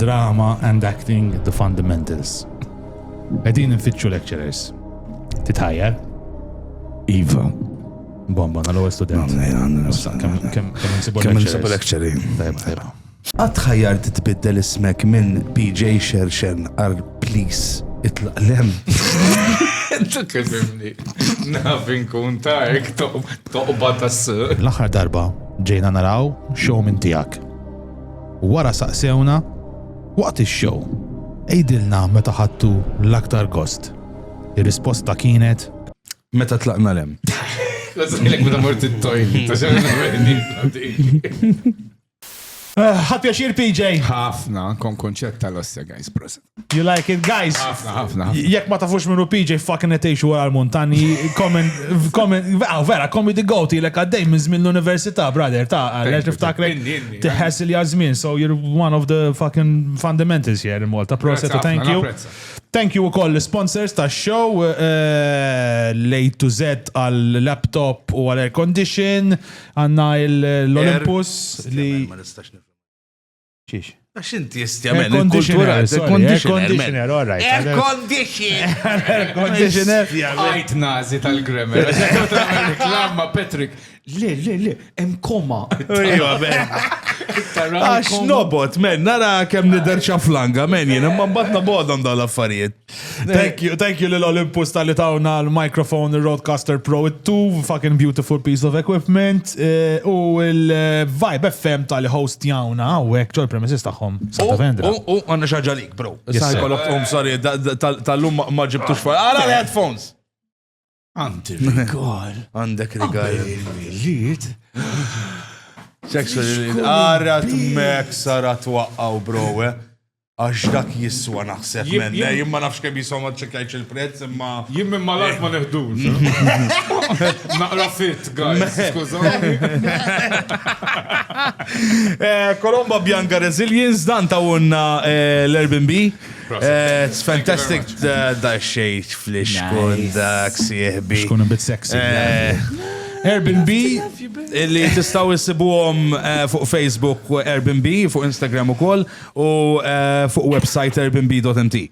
Speaker 2: drama and acting the fundamentals. Qegħdin nfittxu lecturers. Titħajjar?
Speaker 4: Iva.
Speaker 2: Bomba, nal-ewwel student. Kemm nsibu lecturer? Tajba, tajba. Qatt ħajjart
Speaker 3: tbiddel ismek minn PJ Xerxen għal Please itlaq l-hemm.
Speaker 4: Tkellimni. Naf inkun ta' ek toqba ta' s L-aħħar darba
Speaker 2: ġejna naraw show minn tiegħek. Wara saqsewna waqt ix-show għidilna meta ħadtu l-aktar gost. Ir-risposta kienet Meta tlaqna
Speaker 3: l-hemm. Kważi
Speaker 4: meta mort it-toilet.
Speaker 2: Ħadt pjaċir PJ? Ħafna, kont
Speaker 4: kunċett tal-ossja guys, prosit. You like it guys?
Speaker 2: Ħafna, ħafna. Jekk ma
Speaker 4: tafux minnu
Speaker 2: PJ fucking qed tgħixu wara l-muntanji, comment, comment, ah, vera, comedy goat ilek għaddej minn żmien l-università, brother, ta' għaliex niftakrek tiħess il żmien, so you're one of the fucking fundamentals here in Malta. Prosit, thank you. Thank you ukoll l-sponsors ta' show eh, eh, Late to Z għal laptop u għal air condition, Għanna l-Olympus li. Ma nistax nifhem. Xiex? Għax inti
Speaker 3: jistjamen, il-kultura, il-conditioner,
Speaker 2: all right.
Speaker 3: Il-conditioner!
Speaker 2: Il-conditioner! Għajt nazi
Speaker 4: tal-grammar. Reklamma, Patrick. Le, le, le, em koma. Iwa, ben.
Speaker 3: Għax nobot, men, nara kem niderċa flanga, men, jena, ma batna bodom daw l-affarijiet. Thank you, thank
Speaker 2: you lil Olympus tal-li tawna l-microphone, il-Roadcaster Pro 2, fucking beautiful piece of equipment, eh, u il-Vibe FM tal-li host jawna, u għek ġol premises taħħom. Santa Vendra. U
Speaker 3: għanna xaġa lik, bro. Yes, Saħi sir. kolok, um, sorry, da- da- tal- tal-lum ma- ma ġibtux fuq. Għala l-headphones!
Speaker 4: Għandi rigal. Għandek rigal.
Speaker 3: Il-miliet. Sexual Ara t-mek sara twaqqaw browe. Eh? Għax dak jiswa naħseb menna, jim ma nafx kemm jiswa ma ċekajċ il-prezz imma. Jim minn malak ma
Speaker 4: neħdux. Naqra fit, guys, skużani.
Speaker 3: Eh, Kolomba Bianca Resilience, dan ta' unna eh, l-Airbnb. Eh, it's fantastic da xejt flix kun dak sieħbi. Xkun bit sexy.
Speaker 2: Eh,
Speaker 3: Airbnb li tistaw issibuhom eh, fuq Facebook Airbnb, fuq Instagram ukoll u fuq website airbnb.mt.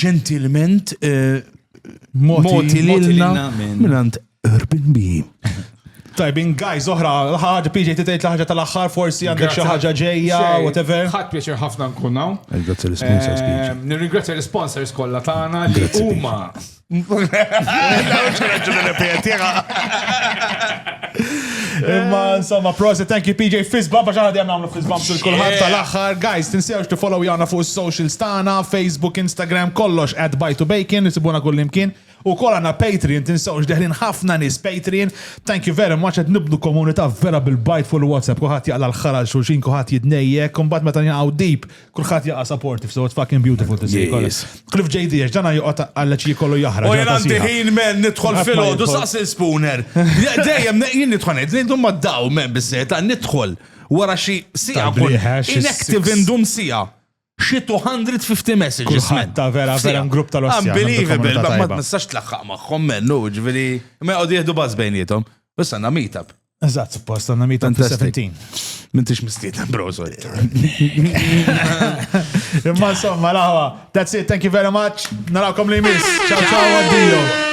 Speaker 3: Ġentilment moti lilna minnant Urban B.
Speaker 2: Tajbin, guys, oħra, ħaġa PJ titejt l-ħaġa tal-axħar, forsi għandek xi ħaġa ġejja, whatever. Ħadd pjaċir ħafna
Speaker 4: nkun hawn. Nirringrazzja l-sponsors. Eh,
Speaker 3: nirringrazzja l-sponsors
Speaker 4: kollha tagħna li huma.
Speaker 2: Imma insomma, prosit, thank you PJ Fizbam, għax għadja namlu Fizbam sul kulħadd tal-axħar. Guys, tinsewx tifollow jana fuq socials tagħna, Facebook, Instagram, kollox at Bite to Bacon, nisibuna kullimkien. Ukoll għandna Patreon tinsewx deħlin ħafna nies Patreon thank you very much qed nibnu komunità vera bil-bajt fuq il-WhatsApp kulħadd jaqla' l-ħħar għal xulxin kulħadd jitnejjek u mbagħad meta nqgħu deep kulħadd jaqa' supportive so it's fucking beautiful to see Yes. Cliff JD għax dana joqgħod għalleċ jkollu jaħraq U jien ġurnata għandi sieħa. ħin men
Speaker 3: nidħol Qatt ma fil-ħodu jidħol. saqsi l-spooner. Je- Dejjem ne- jien nidħol ngħid li ndum maddaw men biżżejjed għan nidħol wara xi siegħa Tal-bliħa, xi inactive six. indum siegħa. xi 250 messages. Kulħadd ta' vera vera grupp
Speaker 2: tal-ossja. Unbelievable, ma ma
Speaker 3: tnistax tlaħħaq magħhom mennu, ġifieri ma jqgħodu jieħdu baż bejnietom. Issa għandna meetup. Eżatt, suppost għandna
Speaker 2: meetup fil-17. Mintix mistiedna,
Speaker 3: bro, sorry.
Speaker 2: Imma insomma, laħwa. That's it, thank you very much. Narakom li jmiss. Ciao, ciao, addio.